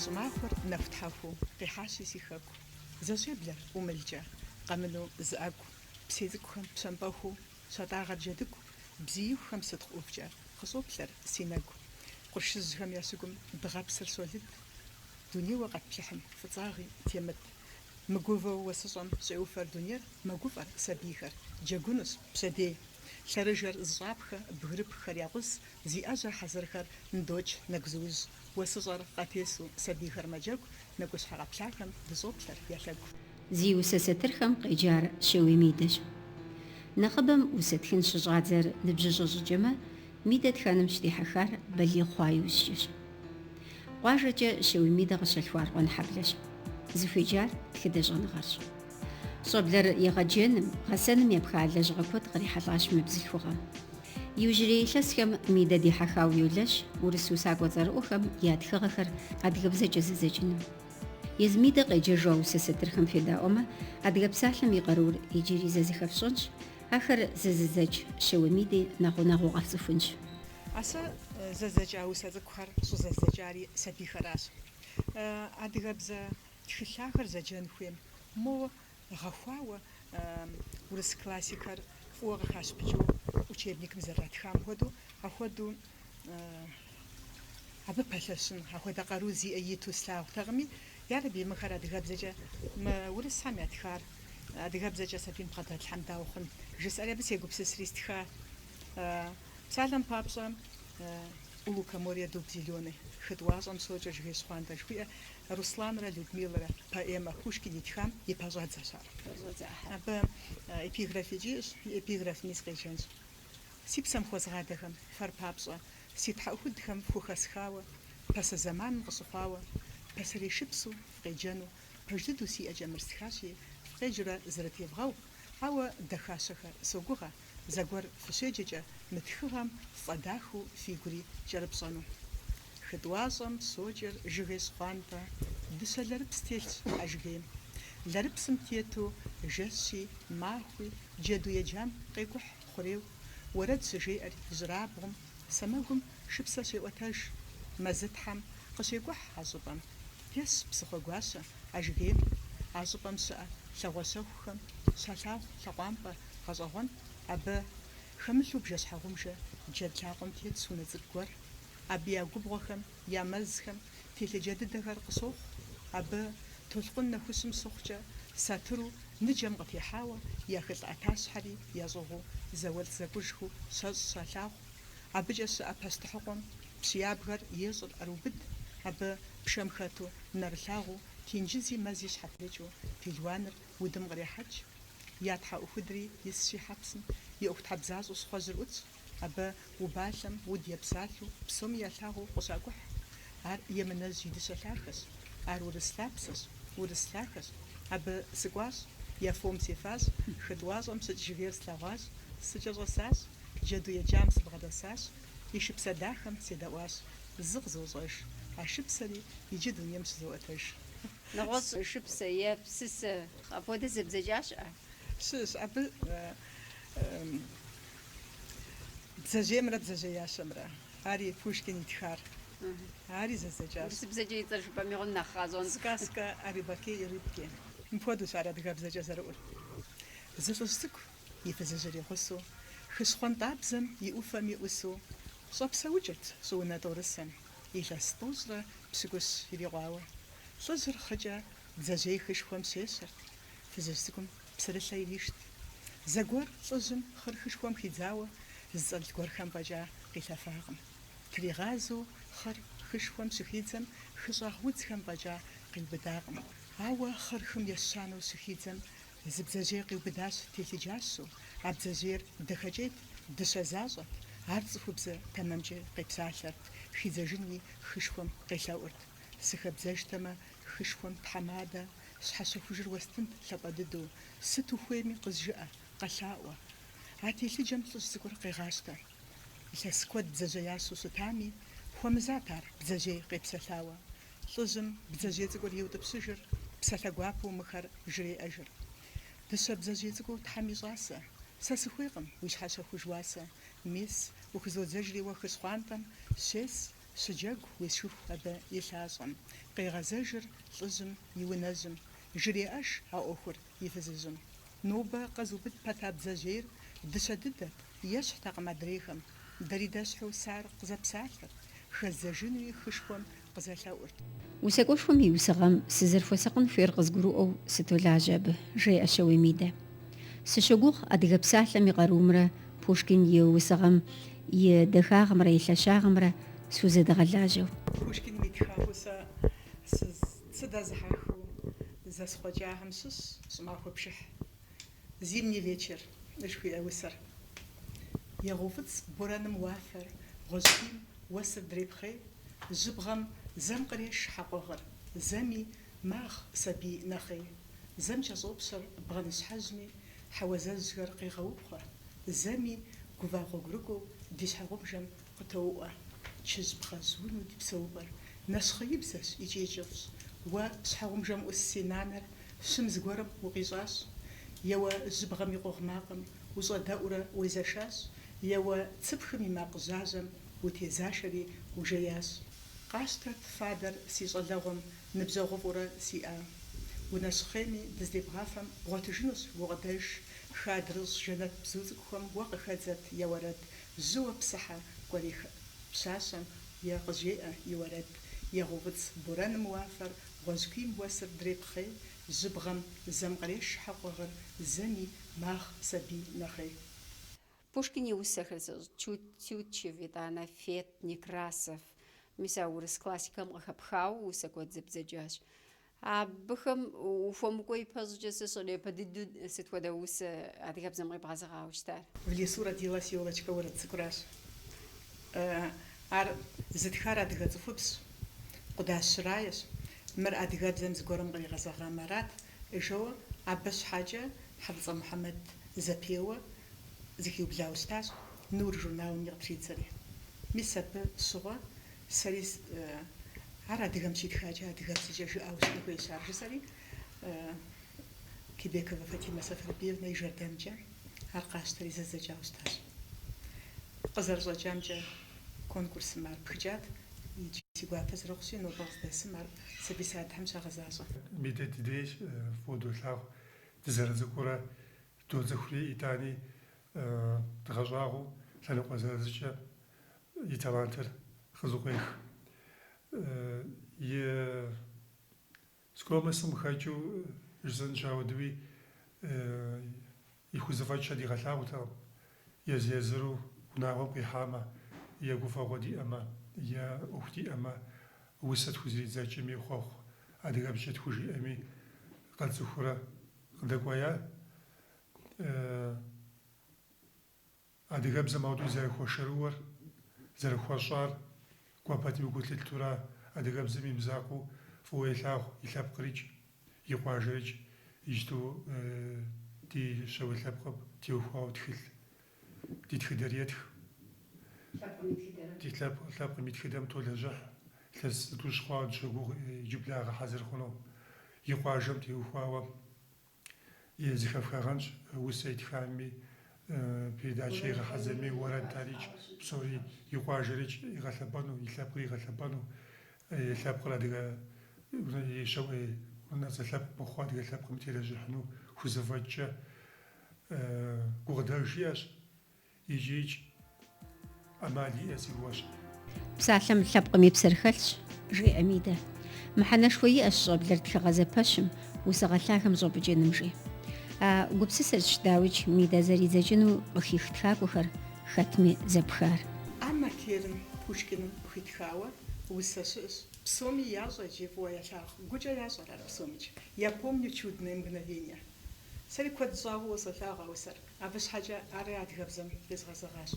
Щӏымахуэр нэхутхьэхуу къихьащи си хэку. Зэщеблэр ӏумылкӏэ, къэмыну зы ӏэгу. Псей цӏыкӏухэм пщэмпӏэхуу Щатӏагъэр джэдыгу. Бзиихухэм сытхъу ӏувкӏэ къыщӏоплъэр си нэгу. Къуршыжьхэм я щыгум дыгъэпсыр щолыд. Дунейуэ къэтплъыхьым фӏыцӏагъи темыт. Мыгувэу уэсыщӏэм щӏеуфэр дунейр. Мэгуфӏэр сабийхэр, джэгунущ, пщэдей. Лъэрыжэр зыщӏапхэ бгырыпххэр якъус, зи ӏэжьэ хьэзырхэр ндокӏ нэгузыужь. Уэсыщӏэр къатесу сабийхэр мэджэгу, Нэкӏущхьэ къэплъахэм дыщӏоплъэр я лъэгу. Зи усэ сатырхэм къеджар Щэуей Мидэщ. Нэхъыбэм усэ тхын щыщӏадзэр ныбжьыщӏэ щӏыкӏэмэ, Мидэ тхэным щыдихьэхар балигъ хъуа иужькӏэщ. Къуажэкӏэ Щэуей Мидэ къыщалъхуар Къуэнхьэблэщ. Зыхуеджар тхыдэ щӏэныгъэрщ. Щӏэблэр егъэджэным, гъэсэным епха лэжьыгъэ куэд кърихьэлӏащ мы бзылъхугъэм. Иужьрей илъэсхэм Мидэ дихьэхауэ йолэщ урыс усакӏуэ цӏэрыӏуэхэм я тхыгъэхэр адыгэбзэкӏэ зэдзэкӏыным. Езы Мидэ къеджэжу а усэ сатырхэм федаӏуэмэ, Адыгэ псалъэм и къарур иджыри зэ зыхэфщӏэнщ, ахэр зэзыдзэкӏ Щэуей Миди нэхъ гъунэгъуу къэфцӏыхунщ. А сэ зэздзэкӏа усэ цӏыкӏухэр щӏызэздзэкӏари сабийхэращ. Адыгэбзэ тхылъ ахэр зэджэн хуейм, моуэ Гъэхуауэ урыс классикэр фӏыуэ къыхащыпыкӏыу учебникым зэрратхам хуэдэу, ахуэдэу абы пэлъэщын, ахуэдэ къару зиӏэ иту слъагъутэкъыми, ярэби, мыхэр адыгэбзэкӏэ, мы урысхэм ятхар адыгэбзэкӏэ сабийм бгъэдэтлъхьэм дауэ хъун? жысӏэри абы сегупсысри стха. Псалъэм папщӏэ, У лукоморья дуб зеленый хытӏуащӏэм щокӏэ жыгей щхъуантӏэ жыхуиӏэ Русланрэ Людмилэрэ поэмэ Пушкин итхам и пэщӏэдзэщ ар. Абы эпиграфикӏ иӏэщ, эпиграфми сыкъеджэнщ. Си псэм хуэзгъадэхэм, фэр папщӏэ, си тхьэӏухудхэм фхухэсхауэ, пасэ зэманым къыщыхъуауэ, пасэрей шыпсу, фкъеджэну, пэж дыдэу си ӏэкӏэ мыр стхащи, фкъеджурэ зрытевгъэу, ауэ дахащэхэр, согугъэ, Зэгуэр фыщеджэкӏэ мы тхыгъэм фӏэдахэу фи гури кӏэрыпщӏэну. Хы тӏуащӏэм щокӏэр жыгей щхъуантӏэ, дыщэ лэрыпс телъщ а жыгейм. Лэрыпсым тету жэщи, махуи, джэду еджам къекӏухь хъурейуэ, уэрэд щыжеӏэр ижьырабгъум, сэмэгум шыпсэ щеӏуэтэж. Мэзытхьэм къыщекӏухь а щӏыпӏэм. Тесщ Псыхъуэгуащэ а жыгейм. А щӏыпӏэм щыӏэ лъагъуэ щэхухэм щалъагъу лъакъуампӏэ Гъэщӏэгъуэн абы, хэмылъу бжэ-щхьэгъубжэ джэд лъакъуэм тетщ унэ цӏыкӏу гуэр, абы я губгъуэхэм, я мэзхэм телъыджэ дыдэхэр къыщохъу, абы, толъкъун нэхущым щыхъукӏэ, сатыру, ныджэм къытехьауэ, я хылӏ ӏэтащхьэри ящӏыгъуу зауэлӏ зэкӏужхыу щэщӏ щалъагъу, абыкӏэ щыӏэ пащтыхьыкъуэм пщы ябгэр ещӏыр ӏэрыубыд, абы, пшэм хэту, нэрылъагъуу, тенджызи мэзи щхьэпрыкӏыу пелуаныр Удым кърехьэкӏ, я тхьэӏухудри исщи хьэпсым, и ӏуэхутхьэбзащӏэу щхъуэжьыр ӏутщ, абы убалъэм уд епсалъэу псоми ялъагъуу къыщакӏухь. Ар емынэжь и дыщэ лъахэщ, ар урыс лъапсэщ, урыс лъахэщ. Абы сыкӏуащ, я фом сефащ, хытӏуащӏэм щыкӏ жыгейр слъэгъуащ, сыкӏэщӏэсащ, джэду еджам сыбгъэдэсащ, и шыпсэ дахэм седэӏуащ. Зы къызощӏэж, а шыпсэри иджы дунейм щызоӏуэтэж. Нэгъуэщӏ шыпсэ е псысэ апхуэдэ зэбдзэкӏа щыӏэ? Щыщщ абы бдзэжьеймрэ бдзэжьеящэмрэ. Ари Пушкин итхар. Ари зэздзэкӏащ. Урысыбзэкӏэ и цӏэр жыпӏэм игъуэм нэхъ къащӏэн. Сказка о рыбаке и рыбке. Мыпхуэдэущ ар адыгэбзэкӏэ зэрыӏур. Зы лӏыжь цӏыкӏу, и фызыжьыр игъусэу, хы щхъуантӏабзэм и ӏуфэми ӏусу, щӏэпсэукӏырт щӏыунэ тӏорысэм. Илъэс тӏощӏрэ пщыкӏущ ирикъуауэ, лӏыжьыр хъыкӏэ бдзэжьей хышхуэм щещэрт. Фызыжь цӏыкӏум псырылъэ иришт. Зэгуэр лӏыжьым хъыр хышхуэм хидзауэ зыцӏэрылъ гуэрхэм фӏэкӏа къилъэфакъым. Тригъазэу хъыр хышхуэм щыхидзэм хыщӏагъ удзхэм фӏэкӏа къиубыдакъым. Ауэ хъыр хым ещанэу щыхидзэм Зы бдзэжьей къиубыдащ, телъыджащэу. А бдзэжьейр дахэкӏейт, дыщэ защӏэт. Ар цӏыхубзэ тэмэмкӏэ къепсалъэрт, хидзэжынуи хышхуэм къелъэӏурт. Сыхэбдзэжтэмэ, хышхуэм тхьэмадэ щхьэщэхужыр уэстынт лъапӏэ дыдэу, сыт ухуейми къызжыӏэ, къэлъаӏуэ. А телъыджэм лӏыжь цӏыкӏур къегъащтэ. Илъэс куэд бдзэжьеящэу щытами, хуэмызат ар бдзэжьей къепсэлъауэ. Лӏыжьым бдзэжьей цӏыкӏур иутӏыпщыжыр, псалъэ гуапэу мыхэр жреӏэжыр. Дыщэ бдзэжьей цӏыкӏуу Тхьэм и щӏасэ, сэ сыхуейкъым уи щхьэщэхуж уасэ, мис, ухызодзэжри уэ хыщхъуантӏэм, щес, щыджэгу уезэшыху абы и лъащӏэм. Къегъэзэжыр лӏыжьым и унэжьым, жреӏэж а ӏуэхур И фызыжьым. Нобэ къэзубыд пэта бдзэжьейр дыщэ дыдэт, ещхьтэкъым адрейхэм. Дэри дэщхьу сэ ар къызэпсалъэрт, хэздзэжынуи хышхуэм къызэлъэӏурт. Усакӏуэшхуэм и усыгъэм сызэрыхуэсакъын хуейр къызгурыӏуэу сытолажьэ абы, жеӏэ Щэуей Мидэ. Сыщогугъ адыгэ псалъэм и къарумрэ Пушкин и усыгъэм и дахагъымрэ и лъэщагъымрэ схузэдэгъэлажьэу. Пушкиным итхауэ сэ сыз. Сыдэзыхьэхыу зэсхъуэкӏахэм щыщщ щӏымахуэ пшыхь, Зимний вечер, жыхуиӏэ усэр. Егъэуфӏыцӏ борэным уафэр, гъуэжькуийм уэсыр дрепхъей, жьыбгъэм зэм къреш хьэкъугъыр, зэми магъ сабий нэхъей, зэм кӏэщӏопщэр бгъэныщхьэжьми, хьэуазэжьхэр къегъэупхъуэ, зэми гува гъуэгурыкӏуэу ди щхьэгъубжэм Къытоуӏуэ, чыжь бгъэжь унэу ди псэупӏэр нэщхъеибзэщ икӏи кӏыфӏщ. Уэ, щхьэгъубжэм ӏус си нанэр, щым зыгуэрым укъищӏащ? Е уэ, жьыбгъэм и къугъ макъым ущӏэдэӏурэ уезэшащ? Е уэ, цыпхым и макъ жьажьэм утезашэри ужеящ? Къащтэт фадэр си щӏалэгъуэм ныбжьэгъуфӏурэ сиӏа. Унэщхъейми дыздебгъафэм бгъуэтыжынущ гукъыдэж, хы адрыщӏ жэнэт бзу цӏыкӏухэм уэ къыхэдзэт я уэрэд Жьыуэ псыхьэ кӏуэрей пщащэм е къыжеӏэ и уэрэд, егъэуфӏыцӏ борэным уафэр гъуэжькуийм уэсыр дрепхъей, жьыбгъэм зэм къреш хьэкъугъыр зэми магъ сабий нэхъей. Пушкин и усэхэр зыщӏ Тют Тютчев итӏанэ Фет Некрасов, мис а урыс классикэм къыхэпхауэ усэ куэд зэбдзэкӏащ. Абыхэм ухуэмыкӏуэ ипэщӏыкӏэ сэ сщӏэрэ, япэ дыдэу сыт хуэдэ усэ адыгэбзэм къибгъэзэгъауэ щытар? В лесу родилась ёлочка уэрэд цӏыкӏуращ. Ар зытхар адыгэ цӏыхубзщ, Къудащ Раещ. Мыр адыгэбзэм зыгуэрым къригъэзэгъамэ арат жоуэ абы щхьэкӏэ Хьэфӏыцӏэ Мухьэмэд зэпеуэ зыхиублауэ щытащ Нур журналыми къытридзэри. Мис абы щыгъуэ Сэри ар адыгэм щитхакӏэ адыгэбзэкӏэ жыӏауэ щытын хуейщ ар, жысӏэри Кибековэ Фатимэ Сафарбиевнэ и жэрдэмкӏэ ар къасщтэри зэздзэкӏауэ щытащ. Къызэрыщӏэкӏамкӏэ, конкурсым ар пхыкӏат, иджы си гуапэ зэрыхъущи, нобэ къыздэсым ар сабий садхэм щагъэзащӏэ. Мидэ дыдейщ, фӏыуэ долъагъу, дызэрыцӏыкӏурэ доцӏыхури, итӏани Дгъэщӏагъуэу лъэныкъуэ зырызкӏэ и талантыр къызэкъуех. И скромностым хэкӏыу жысӏэнщ, апхуэдэуи и хузэфӏэкӏхэр дигъэлъагъутэкъым. Езы-езыру унагъуэм къихьамэ, е гуфӏэгъуэ диӏэмэ, е ӏуэху диӏэмэ, усэ тхузэридзэкӏми, хъуэхъу адыгэбзэкӏэ тхужиӏэми къэтцӏыхуурэ къыдэкӏуея. Адыгэбзэм ауэдэу зэрыхуэшэрыуэр, зэрыхуэщӏар, кӏуэ пэтми гу лъыттэурэ, адыгэбзэм и мызакъуэу фӏыуэ илъагъу и лъэпкърикӏ, и къуажэрикӏ, иджыпсту ди Щэуей лъэпкъым теухуауэ тхылъ, ди тхыдэр етх. Ди лъэпкъ, лъэпкъым и тхыдэм толэжьыхь, илъэс зытӏущ хъуауэ дыщогугъ иджыблагъэ хьэзыр хъуну, и къуажэм теухуауэ зыхэфхагъэнщ усэ итхами, передачэ игъэхьэзырми, уэрэд арикӏ, псори и къуажэрикӏ игъэлъэпӏэну, и лъэпкъыр игъэлъэпӏэну, и лъэпкъыр адыгэ и Щэуей унэцӏэ лъэпкъ мыхъуу адыгэ лъэпкъым телэжьыхьыну хузэфӏэкӏкӏэ гукъыдэж иӏэщ. Икӏи ӏэмал иӏэ си гугъэщ. Псалъэм лъэпкъым и псэр хэлъщ, жеӏэ Мидэ. Мыхьэнэшхуэ иӏэщ щӏэблэр тхыгъэ зэпэщым, усыгъэ лъагэм щӏэпӏыкӏыным, жи. А гупсысэрщ дауикӏ Мидэ зэридзэкӏыну къыхих тхакӏуэхэр хэтми зэпхар. Анна Керным Пушкиным хуитхауэ усэ щыӏэщ. Псоми ящӏэ икӏи фӏыуэ ялъагъу. Гукӏэ ящӏэр ар псомикӏ. Я помню чудное мгновенье. Сэри куэд щӏауэ фӏыуэ солъагъу а усэр. Абы щхьэкӏэ ари адыгэбзэм къезгъэзэгъащ.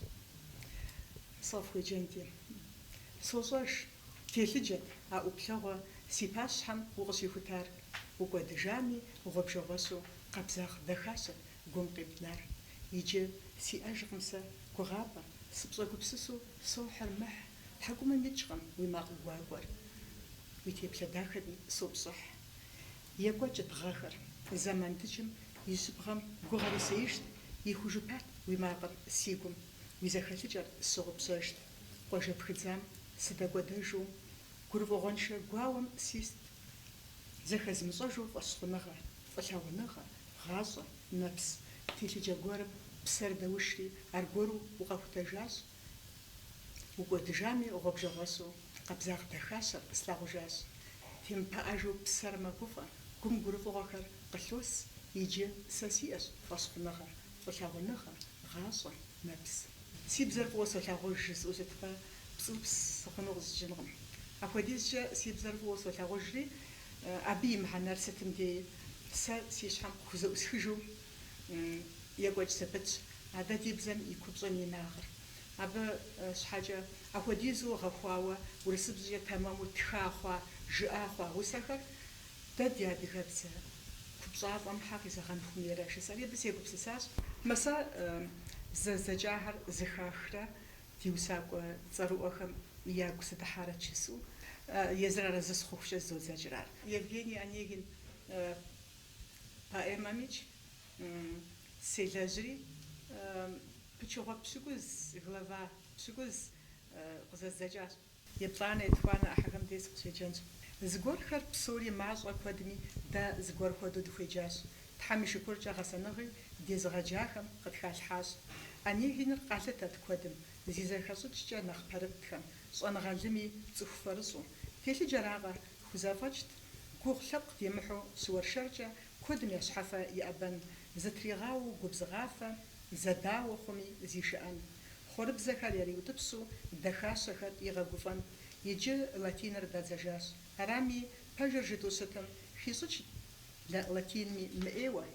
Сыкъыфхуеджэнти, сощӏэж, телъыджэт а ӏуплъэгъуэ си пащхьэм укъыщихутар, укӏуэдыжами, гъуэбжэгъуэщу къабзагъ дахащэт гум къибнар. Иджы сиӏэжкъым сэ гугъапӏэ, сыпщӏэгупсысу сохьыр мыхь, тхьэкӏумэм икӏкъым уи макъ гуакӏуэр. Уи теплъэ дахэри сопщӏыхь. Екӏуэкӏт гъэхэр. Зэман дыджым и жьыбгъэм гугъэр исеижт, Ихужыпат уи макъыр си гум, Уи зэхэлъыкӏэр сщыгъупщэжт. Къуажэ пхыдзам сыдэкӏуэдэжу, Гурыфӏыгъуэншэ гуауэм сист. Зэхэзмыщӏэжу фӏэщхъуныгъэ, Фӏылъагъуныгъэ, гъащӏэ, нэпс, Телъыджэ гуэрым псэр дэушри, Аргуэру укъэхутэжащ. Укӏуэдыжами, гъуэбжэгъуэщу, къабзагъ дахащэр къыслъагъужащ. Темыпыӏэжу псэр мэгуфӏэ, гум гурыфӏыгъуэхэр къылъос, иджы сэ сиӏэщ фӏэщхъуныгъэр, фӏылъагъуныгъэ, гъащӏэ, нэпс. Си бзэр фӏыуэ солъагъуж жысӏэу щытмэ, пцӏыупс сыхъуну къыщӏэкӏынкъым. Апхуэдизкӏэ си бзэр фӏыуэ солъагъужри, абы и мыхьэнэр сытым дей сэ си щхьэм къыхузэӏусхыжу, екӏуэкӏ зэпытщ, а дэ ди бзэм и купщӏэм и инагъыр. Абы щхьэкӏэ апхуэдизу гъэхуауэ урысыбзэкӏэ тэмэму тха хъуа, жыӏа хъуа усэхэр дэ ди адыгэбзэ купщӏафӏэм щхьэ къизэгъэн хуэмейрэ жысӏэри абы сегупсысащ. Мы сэ зэздзэкӏахэр зыхахрэ ди усакӏуэ цӏэрыӏуэхэм ягу сыдыхьарэ жысӏэу, езыр арэзы сыхъухукӏэ зызодзэкӏыр ар. Евгений Онегин Поэмэмикӏ селэжьри, пычыгъуэ пщыкӏуз, глава пщыкӏуз, къызэздзэкӏащ. Еплӏанэ, етхуанэ ӏыхьэхэм дей сыкъыщеджэнщ. Зыгуэрхэр псори мащӏэ куэдми, дэ зыгуэр хуэдэу дыхуеджащ. Тхьэм и шыкуркӏэ гъэсэныгъи дезыгъэджахэм къытхалъхьащ. Онегиныр къалъытэт куэдым, зи зэхэщӏыкӏкӏэ нэхъ пэрытхэм, щӏэныгъэлӏыми, цӏыху фэрыщӏу. Телъыджэракъэ, Хузэфӏэкӏт, гугъу лъэпкъ демыхьу щыуэршэркӏэ куэдым я щхьэфэ иӏэбэн, зытригъауэу губзыгъафэ, зэдауэ хъуми зишыӏэн. Хъуэрыбзэхэр яриутӏыпщу дахащэхэр игъэгуфӏэн. Иджы латиныр дадзэжащ. Арами, пэжыр жытӏэу щытым, хищӏыкӏт латинми мыӏейуэ.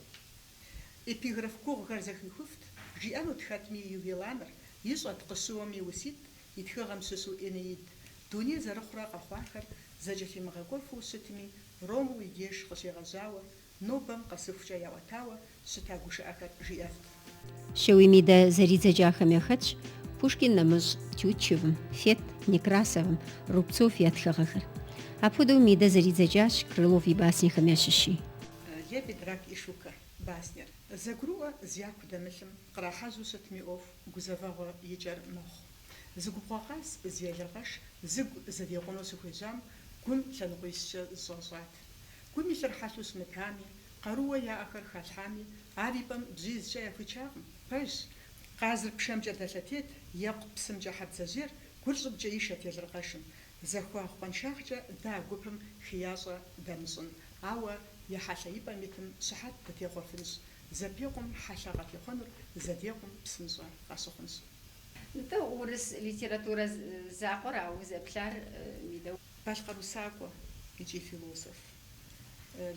Эпиграф гугъухэр зэхихуфт, жиӏэнут хэтми Ювеланыр, ищӏэт, къыщыуэми уситӏ, И тхыгъэм щыщу Энеид, дуней зэрыхъурэ къэхъуахэр зэкӏэлъимыгъэкӏуэфу щытми, Ромул и деж къыщегъэжьауэ, нобэм къэсыхукӏэ яӏуэтауэ щыта гушыӏэхэр жиӏэфт. Щэуей Мидэ зэридзэкӏахэм яхэтщ Пушкин нэмыщӏ Тютчевым, Фет, Некрасовым, Рубцов я тхыгъэхэр. Апхуэдэу Мидэ зэридзэкӏащ Крылов и баснехэм ящыщи. Лебедь, рак и щука баснер зэгурыӏуэ зяку дэмылъым, Кърахьэжьу щытми ӏуэху гузэвэгъуэ и кӏэр мэхъу. Зы губгъуэ къаз, зы елыркъэш зы гу зэдекъуну щыхуежьам гум лъэныкъуищкӏэ зыщӏащӏат. Гум илъыр хьэлъэу щымытами, къарууэ яӏэхэр халъхьами, ар и пӏэм бжьизкӏэ яхуичакъым. Пэжщ, къазыр пшэмкӏэ дэлъэтейт, екъу псымкӏэ хьэбдзэжьейр гур щӏыбкӏэ ишэт елыркъэшым. Захуагъ къуаншагъкӏэ дэ а гупым хеящӏэ дымыщӏын, ауэ я хьэлъэ и пӏэм итым щыхьэт дытехъуэфынщ. Зэпекъум хьэлъэ къыхихъунур зэдекъум псынщӏэ къащыхъунщ. Нтӏэ, урыс литературэ закъуэра узэплъар, Мидэ? Балъкъэр усакӏуэ икӏи философ.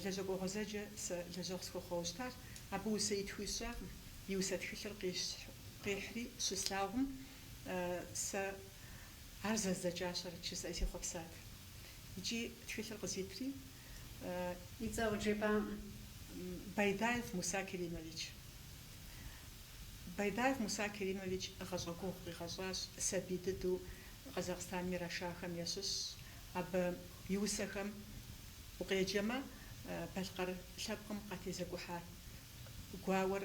Лэжьэкӏуэ гъуэзэджэ сэ лэжьэгъу схуэхъуауэ щытащ. Абы усэ итху сщӏакъым, и усэ тхылъыр къихьри щыслъагъум, сэ ар зэздзэкӏащэрэт жысӏэри сехъуэпсат. Икӏи тхылъыр къызитри. И цӏэ къыджепӏам, Байдаев Муса Керимович. Байдаев Муса Керимович гъащӏэ гугъу къигъэщӏащ, сабий дыдэу Къэзахъстаным ирашахэм ящыщщ. Абы и усэхэм укъеджэмэ, Балъкъэр лъэпкъым къатезэкӏухьа гуауэр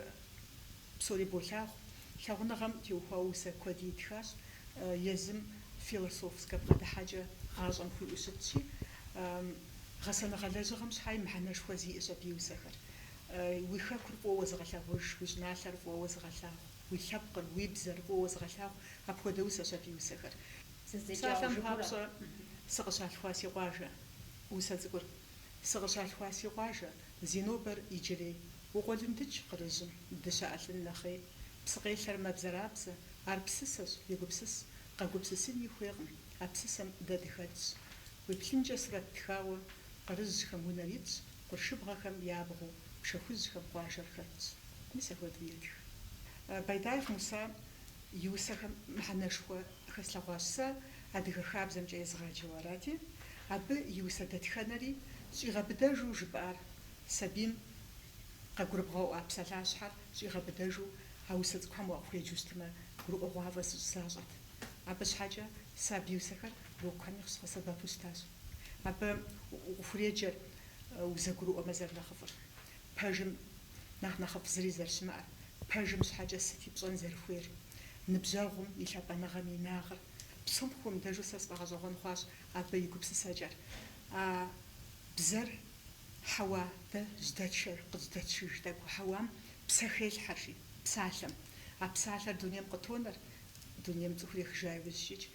Псори болъагъу, лъагъуныгъэм теухуауэ усэ куэд итхащ, езым философскэ бгъэдыхьэкӏэ гъащӏэм хуиӏэу щытщи, гъэсэныгъэ лэжьыгъэм щхьэи мыхьэнэшхуэ зиӏэщ абы и усэхэр. Уи хэкур фӏыуэ зыгъэлъагъуж, уи щӏыналъэр фӏыуэ зыгъэлъагъу, уи лъэпкъыр, уи бзэр фӏыуэ зыгъэлъагъу, апхуэдэ усэщ абы и усэхэр. Псалъэм папщӏэ, сыкъыщалъхуа си къуажэ усэ цӏыкӏур. Сыкъыщалъхуа си къуажэ, зи нобэр иджырей, Укъуэлындыкӏ кърыжьым, дыщэ ӏэлъын нэхъей. Псыкъелъэр мэбзэрабзэ, ар псысэщ, егупсыс, Къэгупсысыни хуейкъым, а псысэм дэ дыхэтщ. Уеплъынкӏэ сурэт тхауэ, кърыжьхэм унэр итщ, Къуршыбгъэхэм я абгъуэу, пшэ хужьхэм къуажэр хэтщ. Мис апхуэдэу етх. Байдаев Муса. И усэхэм мыхьэнэшхуэ хэслъэгъуащ сэ, адыгэ хабзэмкӏэ езыгъаджэу арати, абы и усэ дэтхэнэри щӏигъэбыдэжу жыпӏар, сабийм къэгурыбгъэӏуа псалъащхьэр щӏигъэбыдэжу а усэ цӏыкӏухэм уакъыхуеджэу щытмэ, гурыӏуэгъуафӏэ защӏэт. Абы щхьэкӏэ сэ абы и усэхэр урокхэми къысхуэсэбэпу щытащ. Абы укъыхуреджэр узэгурыӏуэмэ зэрынэхъыфӏыр. Пэжым нэхъ нэхъыфӏ зыри зэрыщымыӏэр, пэжым щхьэкӏэ сыти пщӏэн зэрыхуейр? Ныбжьэгъум и лъапӏэныгъэм инагъыр. Псом хуэмыдэжу сэ сфӏэгъэщӏэгъуэн хъуащ абы и гупсысэкӏэр. А бзэр хьэуа дэ жьэдэтшэр къыжьэдэтшыж тӏэкӏу хьэуам псэ хелъхьэри, псалъэм. А псалъэр дунейм къытонэр, дунейм цӏыхур ехыжа иужь щӏыкӏ,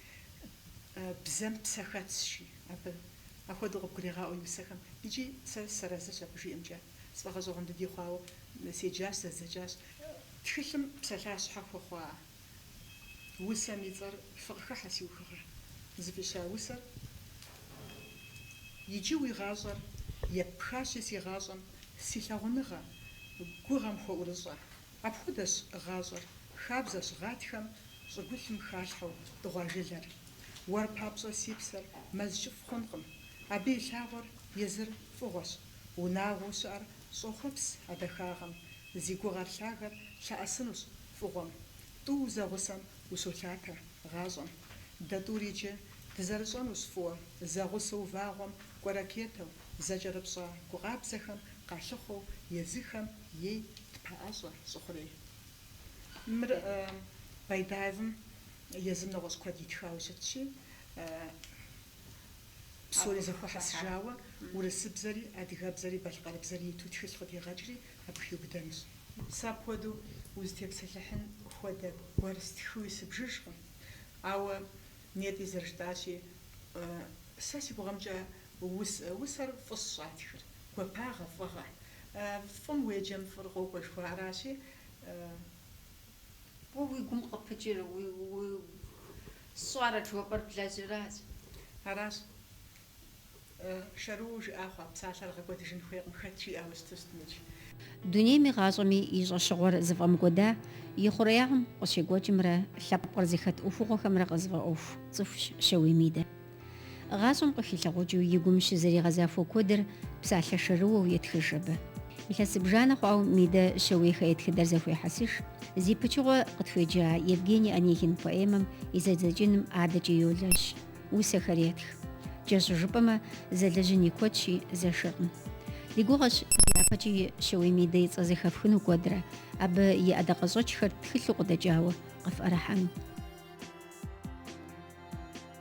бзэм псэ хэтщи, абы. Апхуэдэу къыбгурегъаӏуэ и усэхэм икӏи сэ сыарэзыщ абы жиӏэмкӏэ. Сфӏэгъэщӏэгъуэн дыди хъуауэ седжащ, зэздзэкӏащ. Тхылъым псалъащхьэ хуэхъуа усэм и цӏэр фыкъыхыхьэ, си ухыгъэ. Зыфӏища усэр иджы уи гъащӏэр еппхащи, си гъащӏэм си лъагъуныгъэ гугъэм хуэӏурыщӏэ. Апхуэдэщ гъащӏэр, хабзэщ гъатхэм щӏыгулъым халъхьэу дыгъуа жылэр. Уэр папщӏэ си псэр мэз кӏыфӏ хъункъым. Абы и лъагъуэр езыр фӏыгъуэщ, унагъуэу щыӏэр щӏохъуэпс а дахагъэм. Зи гугъэр лъагэр лъэӏэсынущ фӏыгъуэм. Тӏу узэгъусэм ущолъатэ гъащӏэм. Дэ тӏури иджы дызэрыщӏэнущ фӏыуэ, зэгъусэу вагъуэм кӏуэ ракетэу, зэкӏэрыпщӏа гу къабзэхэм къалъыхъуэу езыхэм ей тпэӏэщӏэ щӏы хъурей. Мыр Байдаевым Езым нэгъуэщӏ куэд итхауэ щытщи, псори зэхуэхьэсыжауэ, урысыбзэри, адыгэбзэри, балъкъэрыбзэри иту тхылъ къыдегъэкӏри, абы хиубыдэнущ. Сэ апхуэдэу узытепсэлъыхьын хуэдэ гуэр стхыуи сыбжыжкъым. Ауэ нетӏи зэрыжытӏащи, сэ си гугъэмкӏэ усэр фӏыщ щӏатхыр, гуапагъэ, фӏыгъэ. Фӏым уеджэм фӏыр къокӏуэ жыхуаӏаращи, Уэ уи гум къыпыкӏыр, сщӏарэт жыхуэпӏэр блэжьыращ. Аращ. Шэрыуэу жыӏа хъуа псалъэр гъэкӏуэдыжын хуейкъым, хэт жиӏауэ щыту щытмикӏ. Дунейми гъащӏэми и щӏэщыгъуэр зыфӏэмыкӏуэда и хъуреягъым къыщекӏуэкӏымрэ лъэпкъыр зыхэт ӏуэхугъуэхэмрэ къызыфӏэӏуэху цӏыхущ Шэуей Мидэ. Гъащӏэм къыхилъагъукӏыу и гум щызэригъэзахуэ куэдыр псалъэ шэрыуэу етхыж абы. Илъэс зыбжанэ хъуауэ Мидэ Щэуейхэ я тхыдэр зэхуехьэсыж. Зи пычыгъуэ къытхуеджа Евгений Онегин поэмэм и зэдзэкӏыным адэкӏэ йолэжь, усэхэр етх. Кӏэщӏу жыпӏэмэ, зэлэжьын и куэдщи, зэшыркъым. Ди гугъэщ дяпэкӏи Щэуей Мидэ и цӏэ зэхэфхыну куэдрэ, абы и ӏэдакъэщӏэкӏхэр тхылъу къыдэкӏауэ къыфӏэрыхьэну.